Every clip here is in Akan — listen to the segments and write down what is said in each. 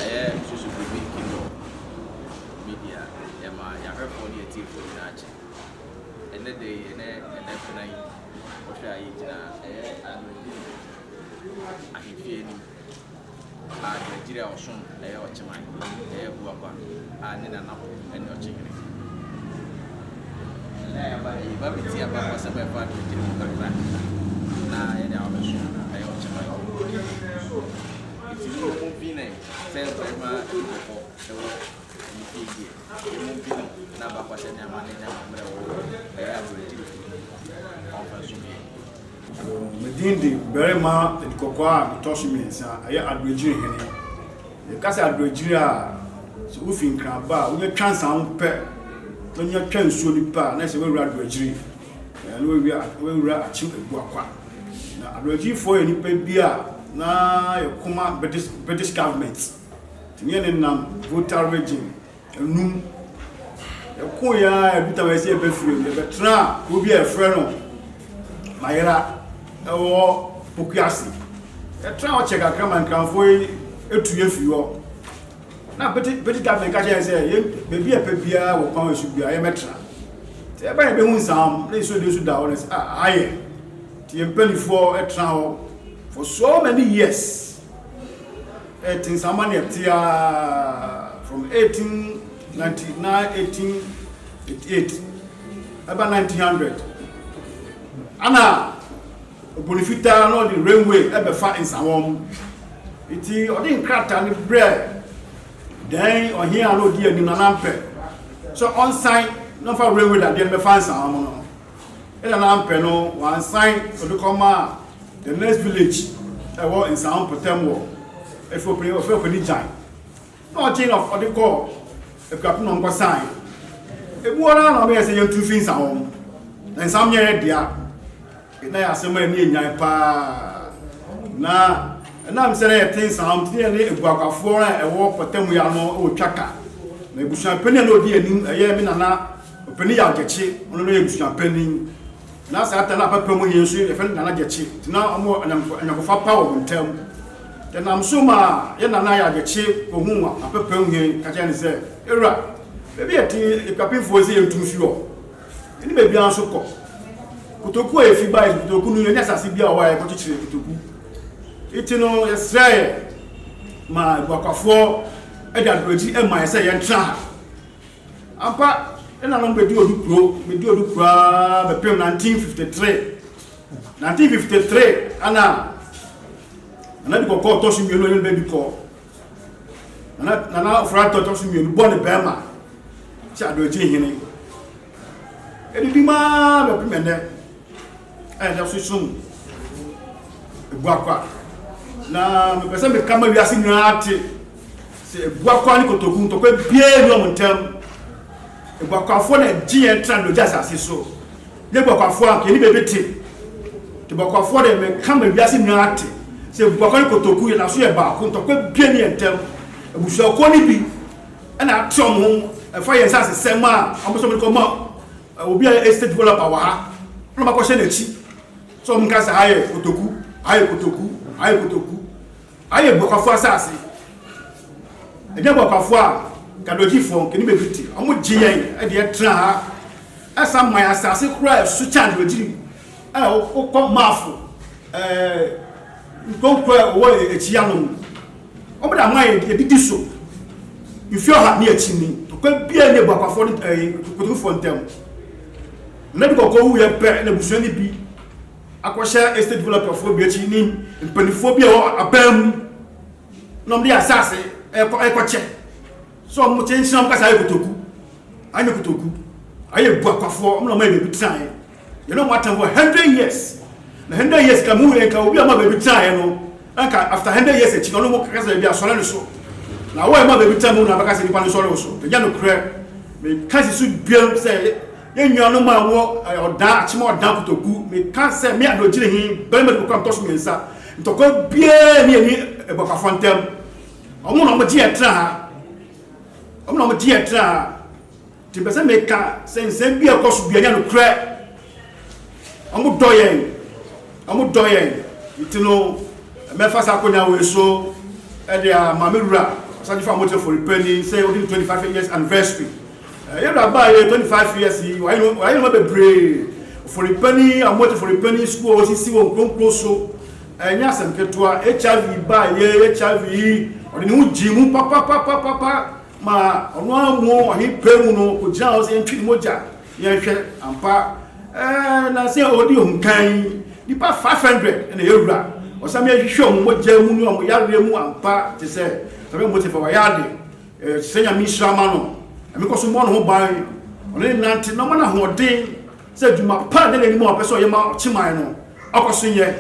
Ayɛ nsusu biribi Kindle Media yɛ ma yɛahwɛfoɔ ne atiefoɔ nyinaa kyɛ. Ɛnnɛ da yi, ɛnɛ Nnapɛnna yi, wohwɛ a yɛgyina ɛyɛ Anwummerɛ Din Ahemfie anim a Gyiragyire a ɔsom ɛyɛ Ɔkyeman, ɛyɛ Abuakwa a ne Nanafo ne Ɔkyehene. Ɛnnɛ a yɛaba ha yi, yɛba abɛtie abakɔsɛm a ɛfa Gyiragyire ho kakra na yɛde abɛsom ɛyɛ Ɔkyeman. Enti mo mo dwene sɛ barima bi wɔ hɔ wɔ ne fie deɛ, mo mo dwene n'abakɔsɛm ne amanne ne amammerɛ wɔ hɔ, ɛyɛ aberɛtewfo bi, ɔmfa nso biɛ. O me din de barima adikɔkɔɔ a metɔ so mmiɛnsa, ɛyɛ adoagyiri hene. Yɛka sɛ adoagyiri a, sɛ wofi Nkraba a, wonya twa nsa ho pɛ, na wonya twa nsuo no pɛ a, na ɛsɛ sɛ woawura adoagyiri. Na wɔawia wɔawura akyem agua kwa. Na abrɛgyifoɔ yɛ nnipa bi a na yɛ koma British British government. Tumi yɛ ne nam Volta region enum. Yɛ ko yɛ a yɛ dutam yɛ sɛ yɛ bɛ firi yɛ bɛ tra kuro bi a yɛ frɛ no Mayera ɛwɔ Pokuase. Yɛ tra hɔ kyɛ kakra ma nkranfoɔ yi etu yɛ firi hɔ. Na pete pete captain ka kyerɛ yɛn sɛ yɛn baabi a ɛpɛ biara wɔ kwan so biara yɛbɛtra nti ɛba yɛ bɛhu nsam na nsuo de nso da hɔ na sɛ ah aha yɛ nti yɛn mpanimfoɔ tra hɔ for so many years ɛte nsama ne ɛte a from 1899 1888 ɛba 1900 ana Ɔbɔ ne fitaa na ɔde rainway bɛfa nsawɔn mu. Enti ɔde nkrataa no brɛɛ dɛn ɔhene a na ɔdi anim na nampɛ sɛ ɔnsan na ɔmfa rainway dadeɛ no bɛfa nsawɔn mu no. Ɛna nampɛ no wansan ɔde kɔmaa the next village ɛwɔ nsawɔn mpɔtam wɔ ɛfɛ ɔpɛni gyan. Na ɔkyee na ɔde kɔɔ akuapem na ɔkɔsaeɛ. Ɛmu hɔ no ara na ɔbɛyɛɛ sɛ yɛntu mfiri nsa hɔ. Na nsa meɛ yɛ dea. Yei na yɛ asɛm a ɛne ɛnyan pa ara. Na ɛnam sɛ na yɛte nsa hɔ nti, na yɛne aguaguafoɔ a ɛwɔ mpɔtam yi ano retwa ka. Na abusuapanin a na ɔdi yɛn anim, ɛyɛ me nana ɔpanin Yaw Gyakye, ɔno na ɔyɛ abusuapanin. Na saa da no a pɛpɛ mu nye nso yi na yɛfrɛ no Nana Gyekye, nti na ɔmo anyamko anyamkofa pa wɔ ɔmo ntam. Ɛnam so maa yɛn Nana Yaa Gyekye kohuu apɛpɛ mu hen ka kyerɛɛ no sɛ, Ewura, baabi a yɛte yi Ekuapemfoɔ yi se yɛntu mfi hɔ, yɛne baabiara nso kɔ. Kotoku a yɛfi baeɛ no, kotoku no yɛnni asase biara wɔ hɔ a yɛkɔ kyekyere kotoku. Nti no yɛsrɛɛ ma Ebuakwafoɔ de adoagyi maa yɛn sɛ yɛntra ha. Ampa, nna no bedi odu kuro, bedi odu kuro ara bɛpem 1953. 1953 ana Nana Adi Kɔkɔɔ tɔ so mmienu ɔne ne ba bi kɔɔ. Nana Nana Ofori-Atta tɔ so mmienu bɔ ne bɛrima sɛ Adoakyiri Hene. Edidi maa bɛpem ɛnnɛ. a ɛda so som Ebuakwa. Na mepɛ sɛ meka ma wiase nyinaa te sɛ Ebuakwa ne Kotoku ntɔkwa biara nni wɔn ntam. Ebuakwafoɔ na ɛgye yɛn tra dogya asase so. Ne Ebuakwafoɔ a yɛne baabi te. Ebuakwafoɔ deɛ meka ma wiase nyinaa te sɛ Ebuakwa ne Kotoku yɛda so yɛ baako ntɔkwa biara nni yɛn ntam. Abusuakuo no bi ɛna ate wɔn ho ɛfa yɛn nsasesɛm a wɔn nso wɔde kɔma Obi a ɔyɛ estate developer wɔ ha na ɔma kɔhyɛ n'akyi sɛ wɔn nka sɛ ha yɛ kotoku, ha yɛ kotoku, ha yɛ kotoku. Ha yɛ Buakwafo asase. Ɛnyɛ Buakwafo a Gadogyifoɔ, Nkenimebiti, wɔn gye yɛn de yɛ tena ha. Ɛsan ma yɛn asase koraa a ɛso kyɛn Adoagyiri. Ɛ wo wo kɔ Mafo ɛɛ nkonko ɛ wɔ ɛ ɛkyi ano no wɔn de ama yɛ ɛdidi so mfie ɔha ne ɛkyi ni ɔkɔ bia ne buakwafoɔ ne ɛ kotokufoɔ ntɛm na bi kɔkɔ wu yɛ pɛ na busua ne bi akɔ hyɛ estate developerfoɔ bi ɛkyi ne mpanifoɔ bi ɛwɔ apɛn mu na wɔn de asase ɛkɔ ɛkɔ kyɛ so wɔn kye nhyɛn wɔn kasa ayɛ kotoku ayɛ kotoku ayɛ buakwafoɔ wɔn na wɔn ayɛ bɛbi tena yɛ Yɛne wɔn atam for hundred years na hundred years ka mu yɛ nka obi a ɔma baabi tenaeɛ no nka after hundred years akyi na ɔno mo kaka sɛ baabi asɔre no so na awɔ ɛma baabi tena mu na abɛka sɛ nipa no sɔre wo so ɛnyɛ no korɛ meka si so duam sɛ yɛn nuanom a wɔ ɔdan akyema ɔdan kotoku meka sɛ me adogyere he bɛrima de kɔkora ntɔso mmiɛnsa ntɔkwa biara ne ɛni ɛbɔkafo ntam ɔmo na ɔmo gye yɛ tena ha ɔmo na ɔmo gye yɛ tena ha Nti mepɛ sɛ meka sɛ nsɛm bi a ɛkɔ so bia nyɛ nokorɛ. Ɔmo dɔ yɛn. Ɔmo dɔ yɛn. Nti no, mɛfa saa akonya wei so de ama me wura Ɔsagyefo Amote Foripani sɛ odi ne 25 years anniversary. Yɛn wura baa yɛ 25 years yi, wayɛ nnoɔma bebree. Foripani, Amote Foripani sukuu a wɔsisi wɔ Nkromkrom so, ɛnyɛ asɛm ketewa. HIV baa yɛ, HIV yi, ɔde ne ho gyee mu papapapapa. Ma ɔno ara mu ɔhene pɛ mu no ɔgyina hɔ sɛ yɛntwe ne mogya yɛnhwɛ ampa ɛɛ na sɛ ɔdi ohun kan nipa five hundred ɛna yɛ wura ɔsɛm yɛ hwehwɛ ɔmo mogya mu ne ɔmo yareɛ mu ampa te sɛ ɛbɛ mo te fɛ wɔyɛ ade ɛɛ te sɛ nyame nhyira ma no ɛmi kɔ so mmɔ ne ho ban ɔne ne nante na ɔma no ahoɔden sɛ adwuma pa ne n'anim a ɔpɛ sɛ ɔyɛ ma ɔkyeman no ɔkɔ so nyɛ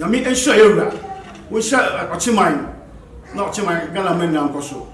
nyame nhyira yɛ wura wɔnhyira ɔkyeman na ɔkyeman ghana mɛ nna nkɔ so